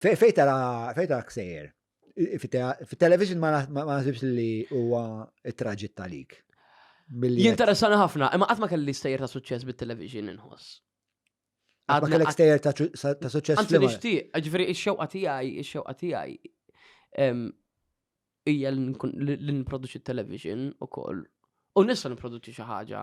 Fejn tara fejn tara ksejjer? Fit-television ma naħsibx li huwa traġit talik. Jinteressani ħafna, imma qatt ma kelli stejjer ta' suċċess bit-television inħoss. Għad ma kellek stejjer ta' suċċess. Għanzi nixtieq, ġifieri x-xewqa tiegħi, x-xewqa tiegħi hija li nproduċi television ukoll. U nista' nipproduċi xi ħaġa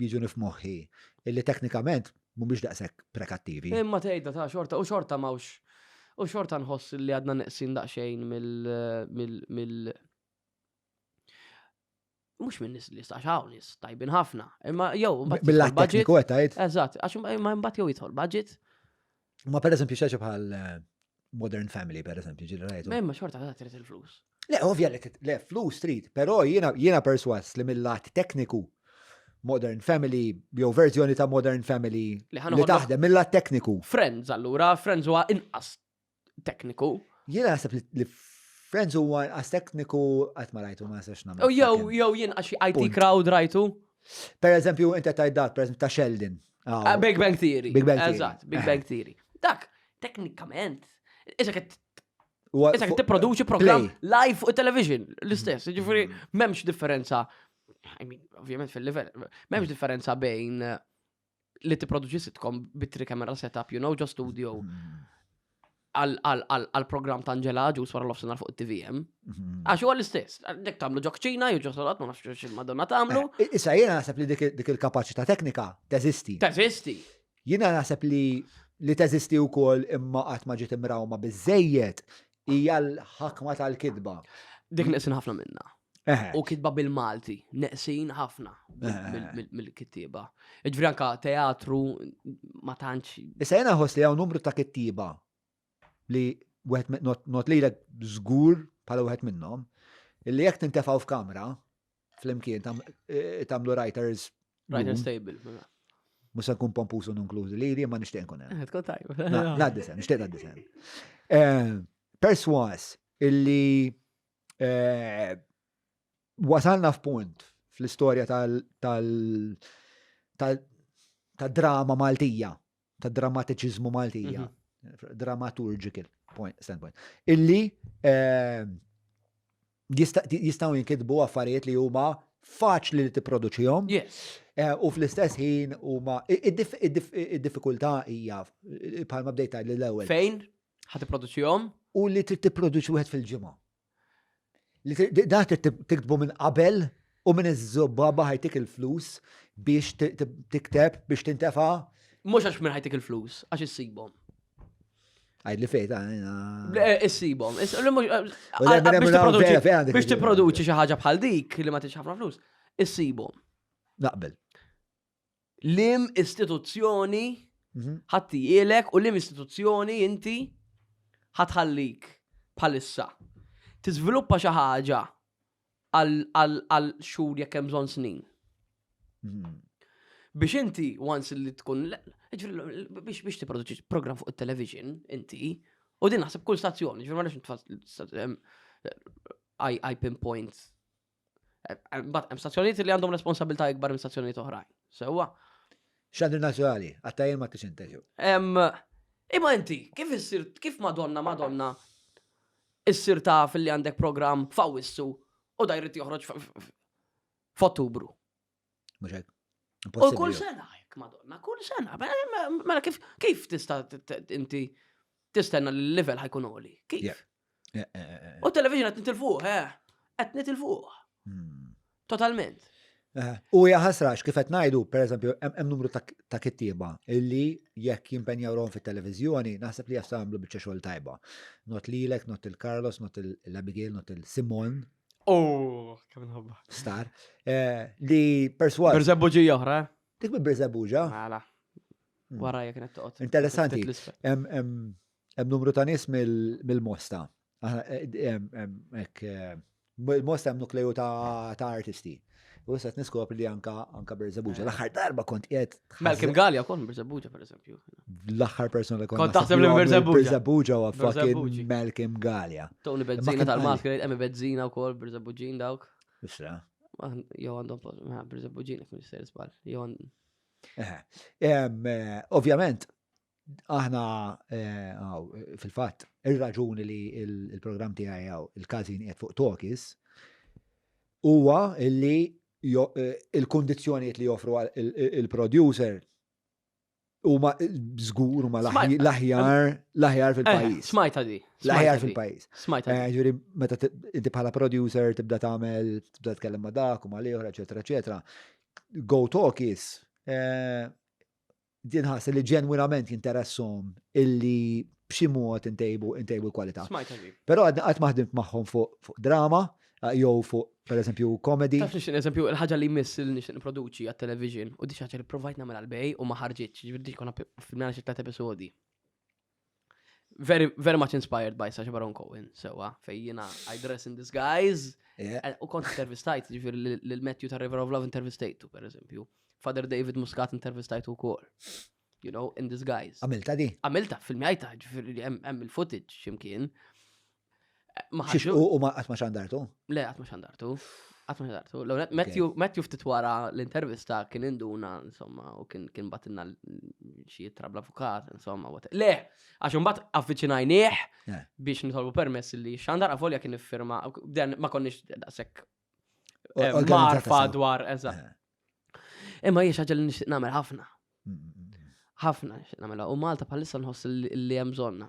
jiġuni f'moħħi illi teknikament mhumiex daqshekk prekattivi. Imma tgħidha ta' xorta u xorta m'hawnx u xorta nħoss li għadna neqsin daqsxejn mill mux minn nis li jistax hawn nis tajbin ħafna. Imma jew mill-lat tekniku qed tgħid. Eżatt, għax imma mbagħad jew jidħol budget Ma per eżempju xaġa bħal eh, Modern Family, per eżempju, ġil rajtu. Ma xorta għadha trid il-flus. Le, ovvja li le, flus trid, però jiena jiena perswas li mill-lat tekniku Modern Family, jew verżjoni ta' Modern Family Li ħa li noħodna- taħdem mill-lat tekniku. Friends allura, Friends huwa inqas tekniku. Jiena naħseb li- li Friends huwa għas tekniku qatt ma rajtu ma nistax nagħmel. U jew fucking- jew jien għax IT Punt. crowd rajtu. Per eżempju, inti tajt dak, per eżempju, ta' Sheldon. Ah, Big Bang Theory. Big Bang Theory. Eżatt, Big Bang Theory. Dak, teknikament, iżda kett Huwa Issa fuq- tipproduċi programm play. Mm. live fuq television l-istess, ġifiri m'hemmx differenza. I mean, ovvjament fil-livell, m'hemmx differenza bejn eh, li tipproduċi sitcom bitri kamera setup, you know, ġo studio mm-hmm. għal-program ta' Angela Ġus wara l-offsenar fuq it-TVM. Mm-hmm. Għax huwa l-istess, nek tamlu ġokċina, jew ġo solat, ma nafx xil madonna tamlu. Eh, issa jiena naħseb li dik il-kapacità teknika teżisti. Teżisti. Jiena naħseb li li teżisti wkoll imma qatt ma ġiet imrawma biżejjed Hija l-ħakma tal-kitba. Dik neqsin ħafna minna. U kitba bil-Malti, neqsin ħafna mill-kittiba. Ġviri anka teatru ma tantx. Issa jena ħos li għaw numru ta' kittiba li not li l żgur pala wieħed minnhom, illi jekk tintefaw f'kamra, flimkien tagħmlu writers. Writers table. Mela. Mhux se nkun pompus u nunklużi li jien ma nixtieq nkun hemm. Tkun tajb. Ngħaddi sen, nixtieq ngħaddi sen. Eh, perswas illi eh, wasalna f'punt fl-istorja tal- tal- tal- ta' drama Maltija ta' drammatiċiżmu Maltija, mhm. dramaturgical point, standpoint, illi ehm, jistaw jinkidbu affarijiet li huma faċli li tipproduċihom. Yes. Eh, u fl-istess ħin huma id-diffikultà hija bħalma bdejta l-ewwel. Fejn? Ħa tipproduċihom? U li trid tipproduċi wieħed fil-ġimgħa. Da tiktbu minn qabel u minn iż-żobba baħajtik il-flus biex tikteb biex tintefa. Mhux għax minn ħajtik il-flus, għax issibhom. Għajd li fejta, għajna. Eh, issibom. Eh, biex t-produċi xaħġa bħal dik li ma t-ħafna flus, issibom. Naqbel. Lim istituzzjoni ħatti ilek u lim istituzzjoni inti ħatħallik bħalissa. Tiżviluppa xi ħaġa għal xhur jekk hemm bżonn snin. Hmm. Biex inti once li tkun biex biex tipproduċi program fuq it-television inti u din naħseb kull stazzjoni, ġifieri ma nafx I pinpoint Bat, hemm stazzjonijiet li għandhom responsabilità ikbar minn stazzjonijiet oħrajn. Sewwa. Xandri nazzjonali, għattajjem ma t-sinteġu. Imma inti, kif issir, kif madonna, madonna, issir ta' fil-li għandek program f'Awissu u dajrit joħroġ f'Ottubru. Mhux hekk. U kull sena hekk madonna, kull sena. Mela kif kif tista' inti tistenna li l-level ħajkun oli? Kif? Eh, eh, eh, u television qed nitilfuh, eh. Qed nitilfuh. Hmm. Totalment. U hija ħasrax kif qed ngħidu, pereżempju, hemm numru ta' kittieba illi jekk jimpenjaw rom fit-televiżjoni, naħseb li jagħmlu biċċa xogħol tajba. Not lilek, not il-Carlos, not il-Abigail, not il-Simon, Oh, kemm nħobba. Star. Eh, li perswas. Berzebuġi oħra. Eh? Dik bi Berzebuġa. Mela. Hmm. Wara jek net toqgħod. Interessanti. Hemm numru ta' nies mill-Mosta. Eh, il-Mosta hemm nukleju ta' artisti. U issa niskop li anka anka Berzebuġa. Eh. L-aħħar darba kont qiegħed. Malcolm Gallia kon Berzebuġa pereżempju. L-aħħar persuna li kont. Kont taħseb li Berzebuġa. Berzebuġa u fucking Malcolm Gallia. Tony Bezzina tal-Maskri, Emi Bezzina wkoll Berzebuġin dawk. Isra. Jew għandhom Berzebuġin jekk nisser żball. Jew eh, eh, Ovvjament, Aħna fil-fatt ir-raġuni li l-programm tiegħi hawn il-każin qiegħed fuq Tokis huwa li il-kundizzjonijiet li joffru il-producer huma żgur huma l-aħjar l-aħjar fil-pajjiż. Smajta di. L-aħjar fil-pajjiż. Smajta. Ġifieri meta inti bħala producer tibda tagħmel tibda tkellem ma' dak u ma' liħor, eċetera, eċetera. Go Tokis Din ħassi li ġenwinament jinteressom illi b'xi mod intejbu intejbu l-kwalità. Smajt għandi. Però għadna qatt maħdimt magħhom fuq drama jew fuq pereżempju komedi. Taf nixtieq eżempju il-ħaġa li jmiss li nixtieq nipproduċi għat-television u dik ħaġa li provajt nagħmel għal bej u ma ħarġitx, ġifieri dik konna filmjana xi tliet episodi. Very, very much inspired by Sasha Baron Cohen, sewa, fej jina I dress in disguise. Eh, u kont intervistajt, ġifir l-Matthew ta' River of Love intervistajtu, per eżempju. Father David Muscat intervistajtu kol. You know, in disguise. Għamilta di? Għamilta, filmjajta, ġifir hemm il-footage ximkien. Maħġu. U ma għatma xandartu? Le, għatma xandartu. Għatma xandartu. Matthew ftit wara l-intervista kien induna, insomma, u kien batinna xie trabla avukat, insomma, u Le, għax un bat avvicinajnieħ eh. biex nitolbu permess li xandar għavolja kien firma, dan ma konniex daqsek eh, marfa dwar, eżat. Eh. Imma jiex ħagġa li nixtieq nagħmel ħafna. Mm, mm, mm, ħafna nixtieq nagħmel. U Malta bħalissa nħoss li hemm bżonna.